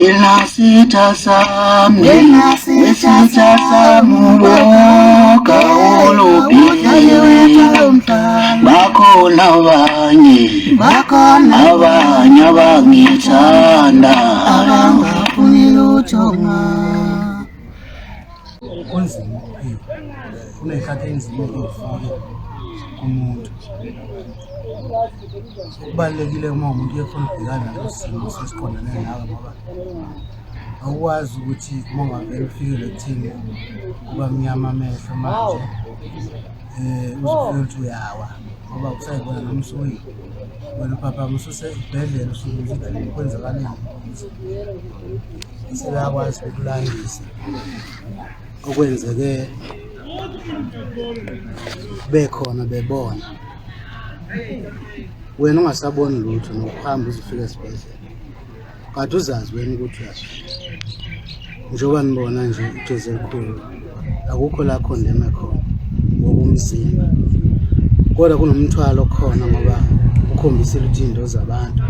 Nginasitha sami, nginasitha sami ubonga olubhekile bakhona abanye bakhona abanye abangithanda abangafuni lutho kunzima kuney'khathi enzima kumuntu Okubalulekile uma umuntu efuna ukubhekana nesimo sesiqondane nawe ngoba awukwazi ukuthi uma ungavele ufikele ekuthini kuba mnyama amehlo manje um uzofika ukuthi uyawa ngoba kusayibona noma usuyi wena ubhabhama ususesibhedlela usuke ukuthi kwenzakaleni sebeyakwazi ukulandisa okwenzeke bekhona bebona wena ungasaboni lutho nokuhamba uzifika esibhedlela kade uzazi wena ukuthi uyasho njengoba nibona nje ijezi elikhulu akukho la khondeme khona ngokomzimba kodwa kunomthwalo khona ngoba ukhombisile ukuthi into zabantu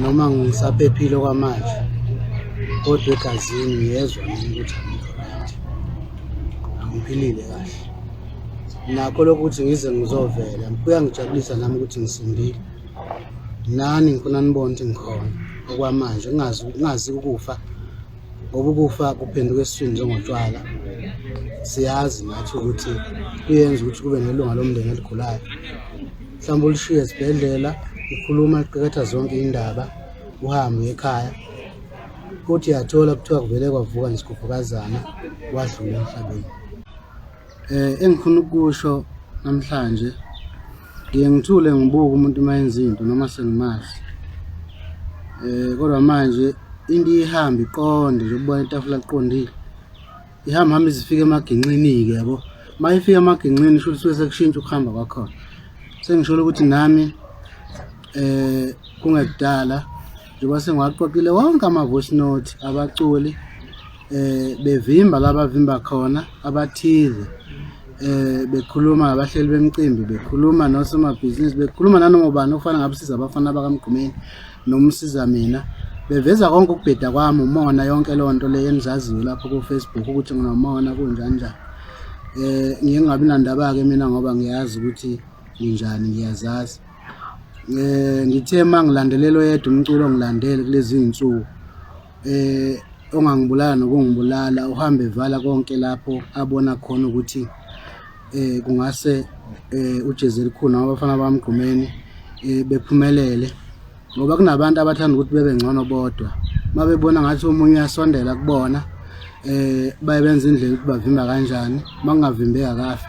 noma ngisaphephile kwamanje kodwa egazini ngiyezwa mina ukuthi angiphilile kahle nakho lokuthi ngize ngizovela kuyangijabulisa nami ukuthi ngisindile nani ngifuna nibone ukuthi ngikhona okwamanje ngingazi ngingazi ukufa ngoba ukufa kuphenduka esiswini njengotshwala siyazi nathi ukuthi kuyenza ukuthi kube nelunga lomndeni eligulayo mhlawumbe ulishiye esibhedlela ukhuluma liqeketha zonke indaba uhambe ekhaya futhi yathola kuthiwa kuvele kwavuka nje sikhuphukazana wadlula emhlabeni Eh engifuna ukusho namhlanje ngiye ngithule ngibuke umuntu uma yenza into noma sengimazi. Eh kodwa manje into ihamba iqonde nje ukubona itafula liqondile. Ihamba hamba izifika emaginxini ke yabo. Mayifika emaginxini sho ukuthi sekushintsha ukuhamba kwakhona. Sengisholo ukuthi nami eh kungekudala njengoba sengiwaqoqile wonke ama voice note abaculi eh bevimba labavimba khona abathize eh bekhuluma abahleli bemcimbi bekhuluma nosomabhizinisi bekhuluma nanoma ubani ofana ngabusiza abafana bakamgqumeni nomsiza mina beveza konke ukubheda kwami umona yonke leyo nto leyo enizaziyo lapho ku-facebook ukuthi nginomona kunjani njani eh ngingabi nandaba-ke mina ngoba ngiyazi ukuthi nginjani ngiyazazi eh ngithe uma ngilandelelo yedwa umculo ngilandele kulezi iy'nsuku eh ongangibulala nokungibulala uhambe evala konke lapho abona khona ukuthi eh kungase eh ujezi elikhulu abafana bamgqumeni eh bephumelele ngoba kunabantu abathanda ukuthi bebe ngcono bodwa mabebona ngathi omunye uyasondela kubona eh baye benza indlela ukuthi bavimba kanjani makungavimbeka kahle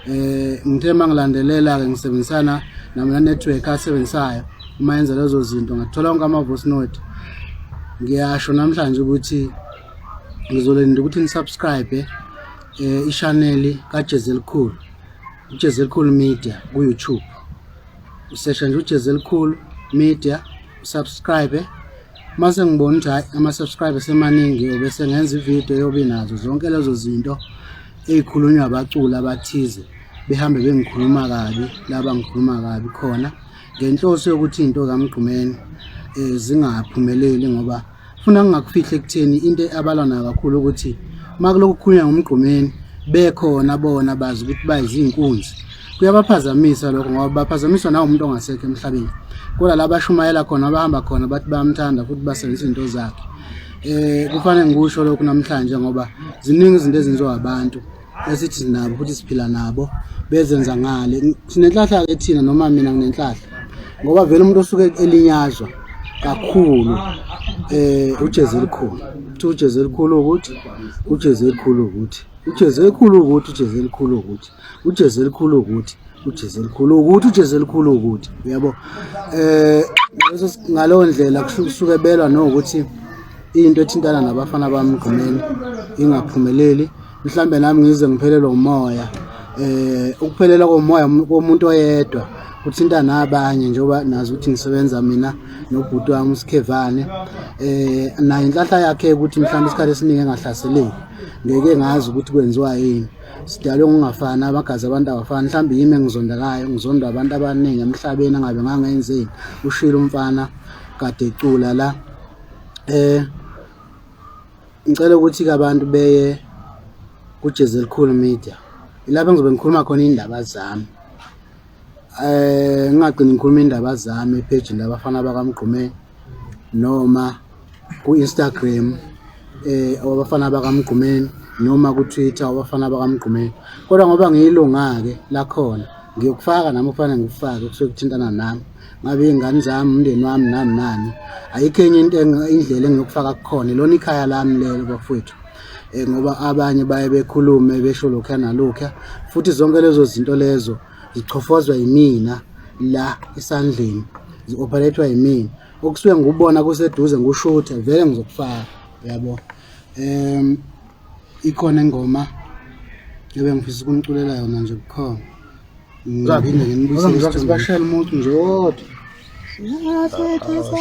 eh ngithe mangilandelela ke ngisebenzisana namla network asebenzisayo uma yenza lezo zinto ngathola onke ama voice note ngiyasho namhlanje ukuthi ngizolinda ukuthi nisubscribe eh i-channel kaJezelikhulu uJezelikhulu Media ku YouTube usesha nje uJezelikhulu Media subscribe mase ngibona ukuthi hayi ama-subscribe semaningi obese ngenza ividiyo yobi nazo zonke lezo zinto ey'khulunywa abaculi abathize behambe bengikhuluma kabi laba ngikhuluma kabi khona ngenhloso yokuthi into kamgqumeni um zingaphumeleli ngoba funa ngingakufihle ekutheni into abalwa nayo kakhulu ukuthi uma kulokhu kukhulunywa ngomgqumeni bekhona bona bazi ukuthi bayizinkunzi kuyabaphazamisa lokho ngoba baphazamiswa nawumuntu ongasekho emhlabeni kodwa la bashumayela khona abahamba khona bathi bayamthanda futhi basebenzisa izinto zakhe eh kufanele ngikusho lokhu namhlanje ngoba ziningi izinto ezenziwa abantu esithi sinabo futhi siphila nabo bezenza ngale sinenhlahla ke thina noma mina nginenhlahla ngoba vele umuntu osuke elinyazwa kakhulu eh ujezi elikhulu uthi ujezi elikhulu ukuthi ujezi elikhulu ukuthi ujezi elikhulu ukuthi ujezi elikhulu ukuthi ujezi elikhulu ukuthi ujezi elikhulu ukuthi ujezi elikhulu ukuthi yabo eh ngaleso ngaleyo ndlela kusuke belwa nokuthi into ethintana nabafana bami gqumeni ingaphumeleli mhlambe nami ngize ngiphelelwe umoya eh ukuphelela komoya komuntu oyedwa kuthinta nabanye njengoba nazi ukuthi ngisebenza mina nobhuti wami uSikhevane eh nayo inhlahla yakhe ukuthi mhlawumbe isikhathi esiningi engahlaseleki ngeke ngazi ukuthi kwenziwa yini sidalwe ngokungafani abagazi abantu abafani mhlawumbe yimi engizondakayo ngizondwa abantu abaningi emhlabeni angabe ngangenzeni ushilo umfana kade ecula la eh ngicela ukuthi ke abantu beye kujezi elikhulu media ilapho ngizobe ngikhuluma khona indaba zami eh ngingagcini ngikhuluma indaba zami epage labafana bakamgqumeni noma ku-Instagram eh abafana bakaMgqumeni noma ku-Twitter abafana bakaMgqumeni kodwa ngoba ngiyilunga-ke lakhona ngiyokufaka nami kufanele ngikufake kusuke kuthintana nami ngabe iy'ngane zami umndeni wami nami nani ayikho enye into indlela engiyokufaka kukhona lona ikhaya lami lelo bafowethu um ngoba abanye baye bekhulume besho lokhuya nalokhuya futhi zonke lezo zinto lezo zichofozwa yimina la esandleni zi-operethwa yimina okusuke ngikubona kuseduze ngushuthe vele ngizokufaka yabo um ikhona ingoma ebe ngifisa ukuniculela yona nje bukhona ngiphinde nginibuyisebashela umuntu nje wodwa Ngiyasethisa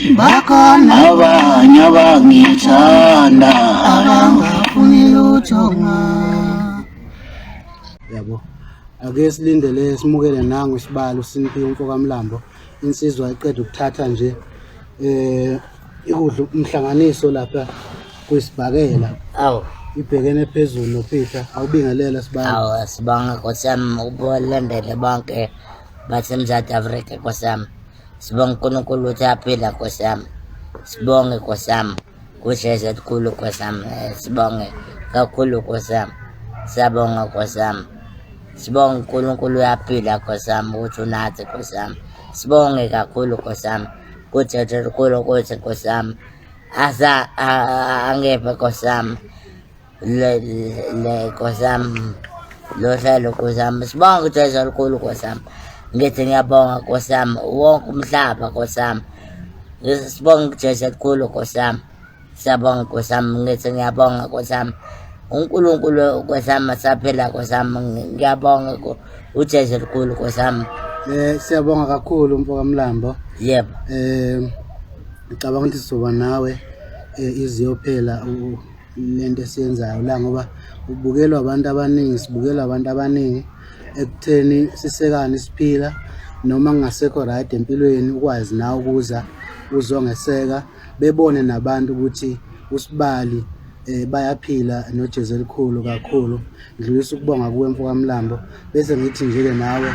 bakhona abanye abangithanda abangafuni lutho yabo ake silindele simukele nangu isibalo siniphi umfo kamlambo insizwa iqeda ukuthatha nje eh ikudla umhlanganiso lapha kwisibhakela awu ibhekene phezulu nophihla awubingelela sibanga awu asibanga nkosiyami ukubolendele bonke basemzantsi afrika nkosiyami Sibonga uNkulunkulu ukuthi aphila Nkosi yami. Sibonge Nkosi yami. Kusheshe kukhulu Nkosi yami. Eh, sibonge kakhulu Nkosi yami. Siyabonga Nkosi yami. Sibonga uNkulunkulu uyaphila Nkosi yami ukuthi unathi Nkosi yami. Sibonge kakhulu Nkosi yami. Kusheshe kukhulu ukuthi Nkosi yami. Asa angephe Nkosi yami. nkosi yami lohlelo nkosi yami sibonga ukuthi ezwa olukhulu nkosi yami ngithi ngiyabonga nkosi yami wonke umhlaba nkosi yami sibonga ukujesu elikhulu nkosi yami siyabonga nkosi yami ngithi ngiyabonga nkosi yami unkulunkulu nkosi yami asaphila nkosi yami ngiyabonga ujesu elikhulu nkosi yami um siyabonga kakhulu mfokamlambo yebo um ngicabanga ukuthi sizoba nawe um iziyophela lento esiyenzayo la ngoba ubukelwa abantu abaningi sibukelwa abantu abaningi ekutheni sisekane siphila noma kungasekho right empilweni ukwazi na ukuza uzongeseka bebone nabantu ukuthi usibali eh bayaphila noJesu elikhulu kakhulu ngidlulisa ukubonga kuwe mfokamlambo bese ngithi nje ke nawe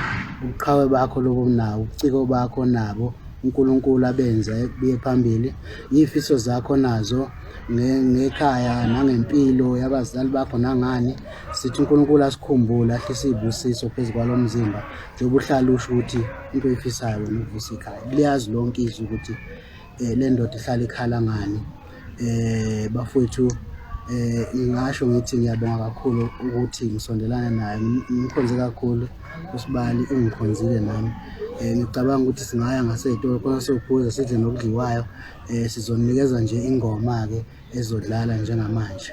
ubuqhawe bakho lobo nawo ubuciko bakho nabo uNkulunkulu abenza kuye phambili yifiso zakho nazo ngekhaya nangempilo yabazali bakho nangani sithi uNkulunkulu asikhumbule ahlise izibusiso phezu kwalo mzimba njengoba uhlala usho ukuthi into oyifisayo wena uvusa ikhaya liyazi lonke izwi ukuthi um le ndoda ihlala ikhala ngani um bafowethu eh ngingasho ngithi ngiyabonga kakhulu ukuthi ngisondelana naye ngikhonze kakhulu usibali ungikhonzile nami eh ngicabanga ukuthi singaya ngaseyitolo khona sophuza sidle nokudliwayo eh sizonikeza nje ingoma ke ezodlala njengamanje